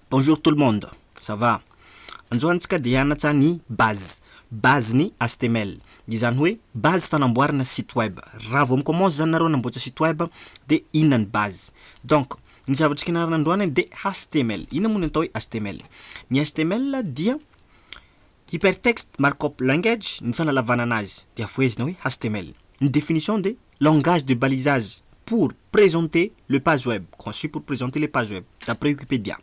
Bonjour tout le monde, ça va? Anjo antsika dia hianatra ny base, base ny html, izany hoe base fanamboarana site web, raha vao mi-commence zany nareo hanamboatra site web de inona ny base? donc ny zavatra kianarina androany dia html, inona moa ny atao hoe html? Ny html dia Hypertext Markup Language ny fanalavanana azy dia vohezina hoe html. Ny définition dia Langage de balisage pour présenter le page web, conçu pour présenter les pages web, d'après Wikipedia.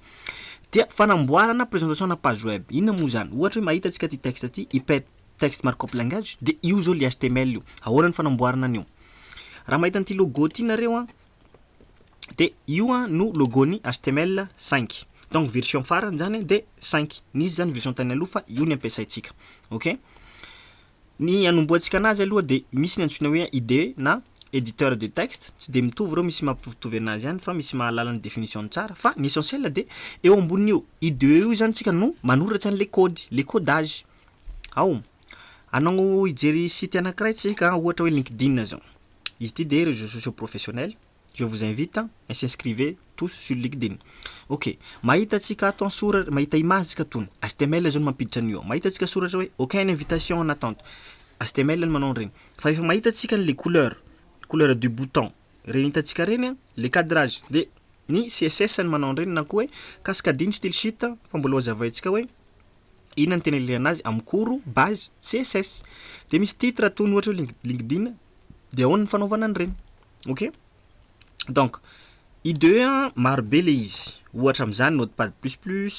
Dia fanamboarana présentation ana page web. Inona moa izany? Ohatra hoe mahita antsika ity texte ity, Hypertext Markup Language, dia io izao ilay html io. Ahoana ny fanamboarana an'io? Raha mahita an'ity logo ity nareo an, dia io no logo ny html cinq donc version farany zany dia cinq nisy zany version tany aloha fa io ny ampiasaintsika ok ny anombohantsika anazy aloha dia misy ny antsoina hoe ide na editeur de texte tsy dia mitovy ireo misy mampitovitovy anazy ihany fa misy mahalala ny definition-ny tsara fa ny essentiel dia eo ambonin'io ide io zany tsika no manoratra an'ilay kody le codage ao anao hijery site anankiray tsika ohatra hoe linkedin zao Izy ity dia réseaux sociaux professionnels, je vous invite a s'inscrivez tous sur LinkedIn. Ok, mahita antsika ato an sora- mahita image tsika tony, html zao no mampiditra an'io ao, mahita antsika soratra hoe aucun invitation en attente, html no manao an'ireny, fa rehefa mahita antsika an'ilay couleur, couleur du bouton, ireny hitantsika ireny an, le cadrage dia ny css no manao an'ireny na koa hoe cascading style sheet fa mbola hozavaintsika hoe. Inona no tena ilana azy amin'ny cours, base, css. Dia misy titre toy ny ohatra hoe LinkedIn dia ahoana ny fanaovana an'ireny. Ok? Donc, IDE maro be ilay izy. Ohatra amin'izany Notepad plus plus,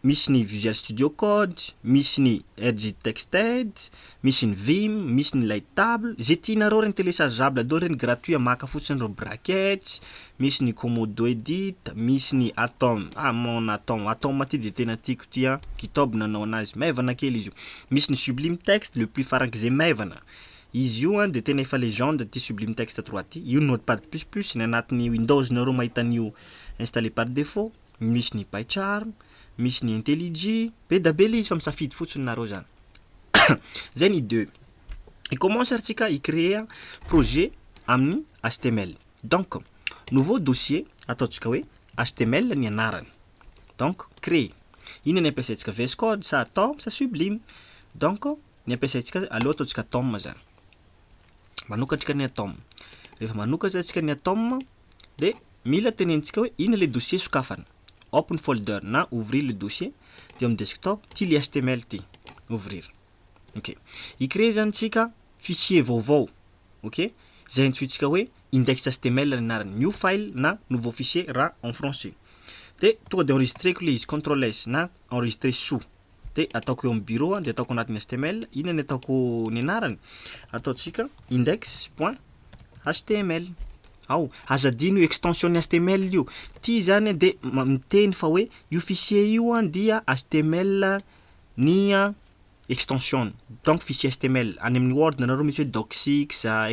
misy ny Visual Studio Code, misy ny Edge Texted, Misy ny vim, misy ny lay table, izay tianareo ireny telechageable daholo ireny gratuit maka fotsiny ireo brackets, misy ny komodo edit, misy ny atom, ah mon atom, atom ity dia tena tiako ity an, github no nanaovana azy, maivana kely izy io, misy ny sublime text le plus farank'izay maivana, izy io an dia tena efa legende ity sublime text trois ity, io notepad plus plus, ny anatin'ny windows nareo mahita an'io installé par défaut. misy ny by charm, misy ny intellig, be da be le izy fa misafidy fotsiny nareo zany zay ny deux i commence ary tsika i créer projet amin'ny html donc nouveau dossier ataontsika hoe html ny anarany donc crée inona ny ampiasaintsika vs code sa tom sa sublime donc ny ampiasaintsika aleo ataontsika tom zany manokatrika ny tom rehefa manokatra tsika ny tom de mila tenenintsika hoe ina le dossier sokafana, open folder na ouvrir le dossier de eo amin'ny desktop ty le html ty, ouvrir ok, hi-creer zany tsika fichier vaovao ok, zay antsointsika hoe index html ny anarany, new file na nouveau fichier raha en français, de tonga de enregistreko le izy, control S na enregistrer soa. dia ataoko eo amin'ny bureau dia ataoko anatin'ny html inona ny ataoko ny anarany ataontsika index point html ao aza adino io extension ny html io ty zany dia miteny fa hoe io fichier io an dia html ny extension donc fichier html any amin'ny word nareo misy hoe docx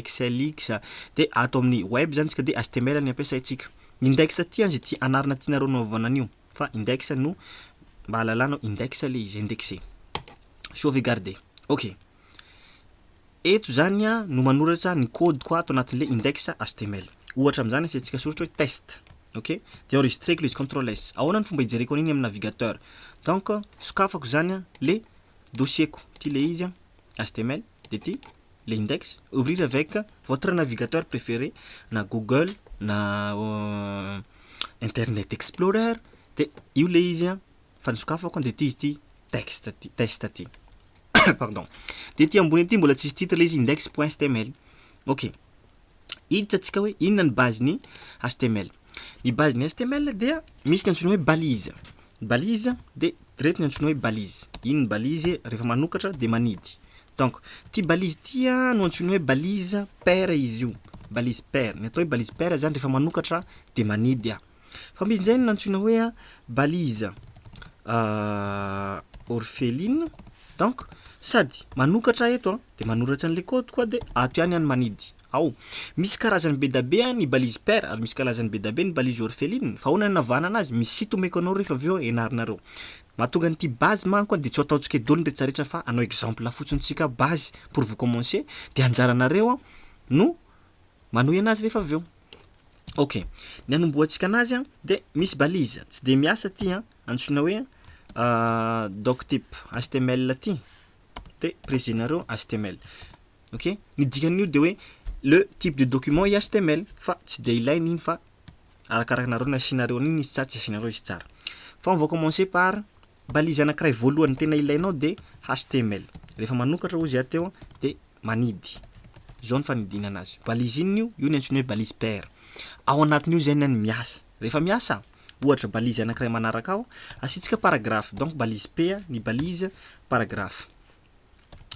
excelx dia ato amin'ny web zany tsika dia html ny ampiasaintsika index ty an zay ty anarana tianareo hanaovana an'io fa index no mba hahalalanao index le izy indexé sauvegarder ok eto zany a no manoratra ny code ko ato anatin'le index html ohatra amin'izany asiantsika soratra hoe test ok de enregistreko le izy control s ahoana ny fomba hijereko an'iny amin'ny navigateur donc sokafako zany a le dossier ko ty le izy a html de ty le index, ouvrir avec votre navigateur préféré na google na internet explorer de io le izy an, fa ny sokafako an de ty izy ty text ty, test ty pardon, de ety ambony ety mbola tsisy titre le izy index point html ok, hiditra tsika hoe inona ny base ny html, ny base ny html dia misy ny antsoina hoe balise, balise de ireto ny antsoina hoe balise, iny ny balise refa manokatra de manidy Donc, ty balise ty no antsoina hoe balise paire izy io, balise paire. Ny atao hoe balise paire zany rehefa manokatra dia manidy. Fa misy indray ny antsoina hoe balise orpheline, donc sady manokatra eto dia manoratra an'ilay code koa dia ato ihany any manidy. Ao, misy karazany be dia be ny balise paire ary misy karazany be dia be ny balise orpheline. Fa ahoana no anavahana anazy? Misy site omeko anao rehefa avy eo ianaranareo. Mahatonga an'ity base manko a dia tsy ho ataontsika idoliny rehetra rehetra fa hanao exemple fotsiny tsika base pour vous commencer dia anjaranareo a no manohy anazy rehefa avy eo. Ok, ny hanombohantsika anazy a dia misy balise tsy dia miasa ty a antsoina hoe doctype html ty de presenareo html ok, ny dikan'io dia hoe le type de document i html fa tsy dia ilaina iny fa arakarakanareo ny asianareo an'iny izy tsara tsy asianareo izy tsara fa on va commencer par balise anakiray voalohany tena ilainao de html rehefa manokatra ozy ah teo de manidy zao ny fanidinana azy balise inona io io ny antsoina hoe balise paire ao anatin'io zay ny miasa rehefa miasa ohatra balise anakiray manaraka ao asiantsika paragraphe donc balise P ny balise paragraphe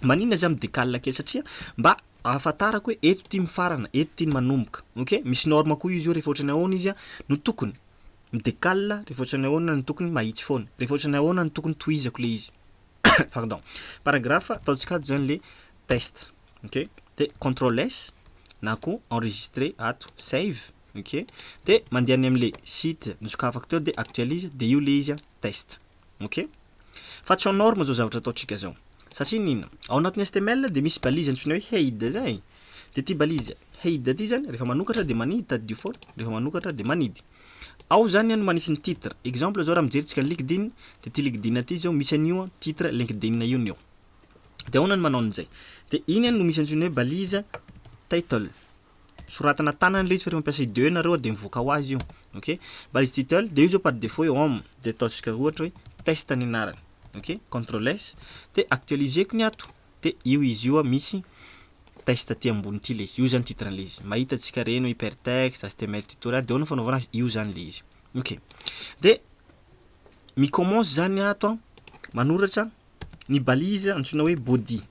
Maninona za mi-decale kely satria mba ahafantarako hoe eto ty mifarana, eto ty manomboka. Ok? Misy norme koa izy io rehefa ohatran'ny ahoana izy no tokony. Mi-decale rehefa ohatran'ny ahoana no tokony mahitsy foana. Rehefa ohatran'ny ahoana no tokony tohizako le izy. Pardon. Paragraphe ataontsika ato zany le test. Ok? De control S na koa enregistrer ato, save. Ok? De mandeha any amle site nosokafako teo de actualise de io le izy test. ok fa tsy en norme zao zavatra ataontsika zao satria ny inona ao anatin'ny html dia misy balise antsoina hoe head zay dia ity balise head ity zany rehefa manokatra dia manidy tady du fond rehefa manokatra dia manidy ao zany no manisy ny titre exemple zao raha mijerintsika ny linkedin dia ity linkedin ity zao misy an'io titre linkedin io ny eo dia ahoana ny manao an'izay dia iny no misy antsoina hoe balise title soratana tanana ilay izy fa rehefa mampiasa id ianareo dia mivoaka ho azy io ok mba izy title dia io zao par defaut hoe home dia ataontsika ohatra hoe test ny anarany ok control s dia actualiseko ny ato dia io izy io misy test aty ambony ity ilay izy io zany titre an'ilay izy mahita antsika ireny hoe hyper text html tutorial dia ahoana ny fanaovana azy io zany ilay izy ok dia mi commence zany ato manoratra ny balise antsoina hoe body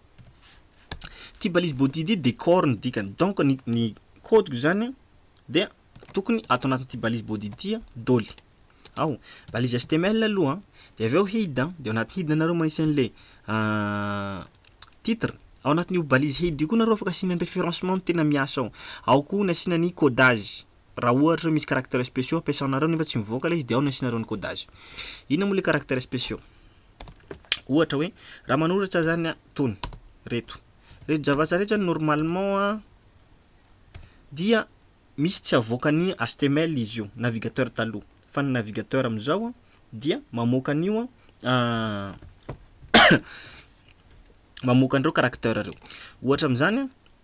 Ty balise body ty de corps ny dikany donc ny ny code ko zany dia tokony ato anatin'ity balise body ity doly ao balise html aloha de avy eo head de ao anaty head nareo magnisy anle titre ao anatin'io balise head io koa nareo afaka asiana ny referencement ny tena miasa ao, ao koa ny asiana ny codage. raha ohatra hoe misy caractères spéciaux ampiasanareo nefa tsy mivoaka ilay izy dia ao no asianareo ny codage. Inona moa ilay caractères spéciaux? Ohatra hoe raha manoratra zany aho itony, ireto, ireto javatra ireto zany normalement an dia misy tsy avoaka ny html izy io, navigateur taloha, fa ny navigateur amin'izao an dia mamoaka an'io an mamoaka an'ireo caracteurs ireo. Ohatra amin'izany an,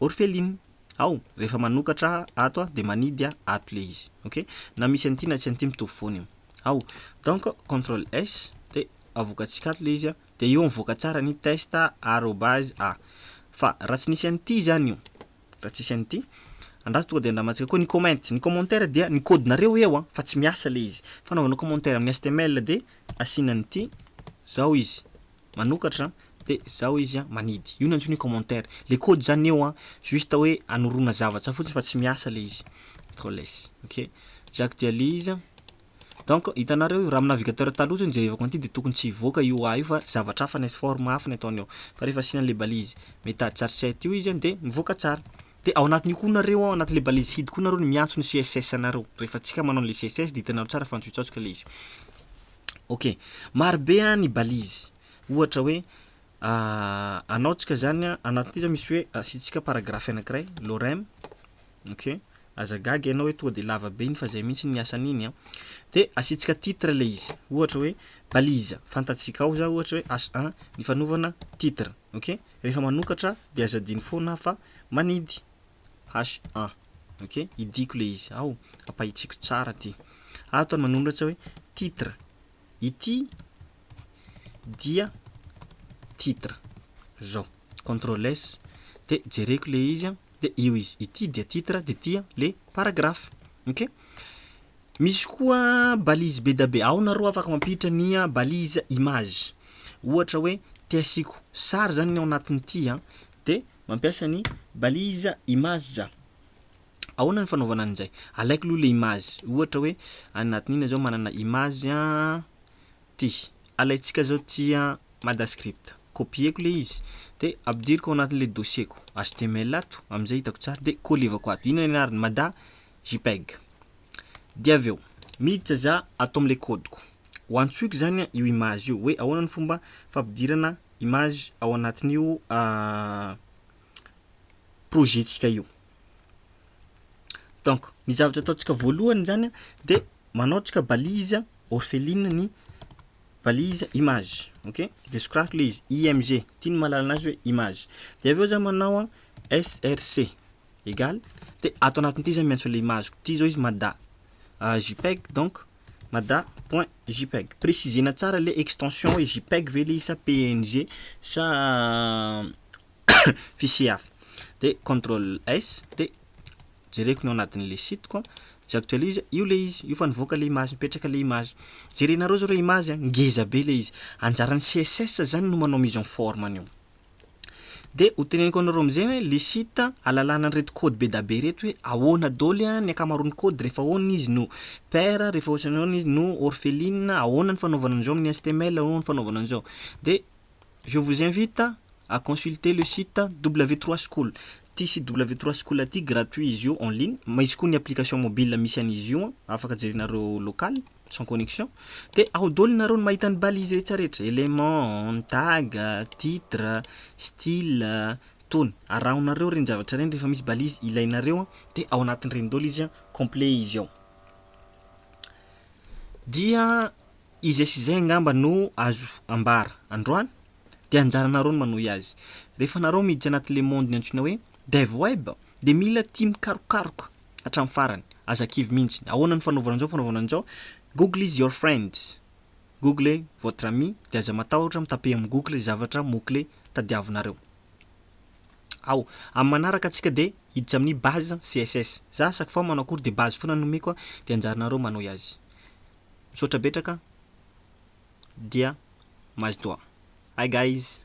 Orphelin aho rehefa manokatra ato a de manidy a ato le izy ok na misy an'ity na tsy an'ity mitovy foana io ao donc control s de avokatsika ato le izy a de io mivoaka tsara ny test arobase a fa raha tsy nisy an'ity zany io raha tsisy an'ity andraso tonga de andramantsika koa ny comment ny commentaire dia ny kaodinareo eo a fa tsy miasa le izy fanaovana commentaire amin'ny html de asiana an'ity zao izy manokatra de zao izy a manidy io no antsoina hoe commentaire le code zany eo a juste hoe anorona zavatra fotsiny fa tsy miasa le izy control s ok j'actualise donc hitanareo io raha amin'ny navigateur taloha zao ny jerevako an'ity de tokony tsy hivoaka io a io fa zavatra hafa ny forme hafa ny ataony ao fa rehefa asiana an'le balise meta char set io izy a de mivoaka tsara de ao anatin'io koa nareo ao anatin'le balise hid koa nareo no miantso ny css anareo rehefa tsika manao an'le css de hitanareo tsara fa antsokitsatsoka le izy. Ok, maro be an ny balise, ohatra hoe anaontsika zany an, anatin'ity zany misy hoe asiantsika paragraphe anankiray, lorem, ok, aza gaga ianao hoe tonga de lava be iny fa zay mihitsy ny asan'iny an, de asiantsika titre le izy, ohatra hoe balise, fantatsika ao zany ohatra hoe H un ny fanaovana titre, ok, rehefa manokatra de aza adino foana fa manidy. HA. Ok? Idiako ilay izy. Ao, ampahitsiako tsara ity. Ato ny manoratra hoe titre. Ity dia titre. Izao. Control S. Dia jereko ilay izy. Dia io izy. Ity dia titre, dia ity le paragraphe. Ok? Misy koa balise be dia be. Ao nareo afaka mampiditra ny balise image. Ohatra hoe, te asiako sary izany ny ao anatin'ity. Dia. Mampiasa ny balise image. Ahoana ny fanaovana an'izay? Alaiko aloha ilay image, ohatra hoe any anatin'iny izao manana image ity, alaintsika izao ity madascript, copier-ko ilay izy dia ampidiriko ao anatin'ilay dossier-ko html ato amin'izay hitako tsara dia collevako ato, inona ny anarany? Mada jpeg. Dia avy eo miditra za ato amin'ilay code-ko, ho antsoiko izany io image io hoe ahoana ny fomba fampidirana image ao anatin'io projet tsika io donc ny zavatra ataontsika voalohany zany de manao tsika balise orpheline ny balise image ok de sokaiko le izy img ty ny maha lalana azy hoe image de avy eo za manao an src egal de ato anatin'ity za miantso an'le image-ko ty zao izy mada jpeg donc Mada point jpeg. Presizena tsara le extension hoe jpeg ve le izy sa png sa fichier hafa. De control S de jereko ny ao anatin'le site ko, j'actualise, io le izy, io fa nivoaka le image, mipetraka le image. Jerenareo zao le image a, ngeza be le izy. Anjaran'ny CSS zany no manao mise en forme an'io. Dia ho teneniko anareo amin'izay hoe le site alalana an'ireto code be da be ireto hoe ahoana doly ny ankamaroan'ny code, rehefa ahoana izy no paire, rehefa ahoana izy no orpheline, ahoana ny fanaovana an'izao amin'ny html, ahoana ny fanaovana an'izao. Dia je vous invite à consulter le site w trois school. Ity site w trois school ity gratuit izy io en ligne, misy koa ny application mobile misy an'izy io afaka jerinareo local. sans connexion dia ao daholo nareo no mahita ny balise rehetra rehetra element, tag, titre, style, tony arahonareo ireny zavatra ireny rehefa misy balise ilainareo dia ao anatin'ireny daholo izy complet izy ao dia izay sy izay angamba no azo ambara androany dia anjaranareo no manohy azy rehefa nareo miditra anatin'le monde-ny antsoina hoe dev web dia mila tia mikarokaroka hatramin'ny farany, aza kivy mihintsy. Ahoana no fanaovana an'izao fanaovana an'izao? Google is your friend, Google est votre ami, dia aza matahotra mi-taper amin'ny Google izay zavatra mots clés tadiavinareo ao. Amin'ny manaraka antsika dia hiditra amin'ny base CSS. Za chaque fois manao cours dia base foana no omeko a, dia anjaranareo manohy azy. Misaotra betraka dia mazotoa. Hi guys.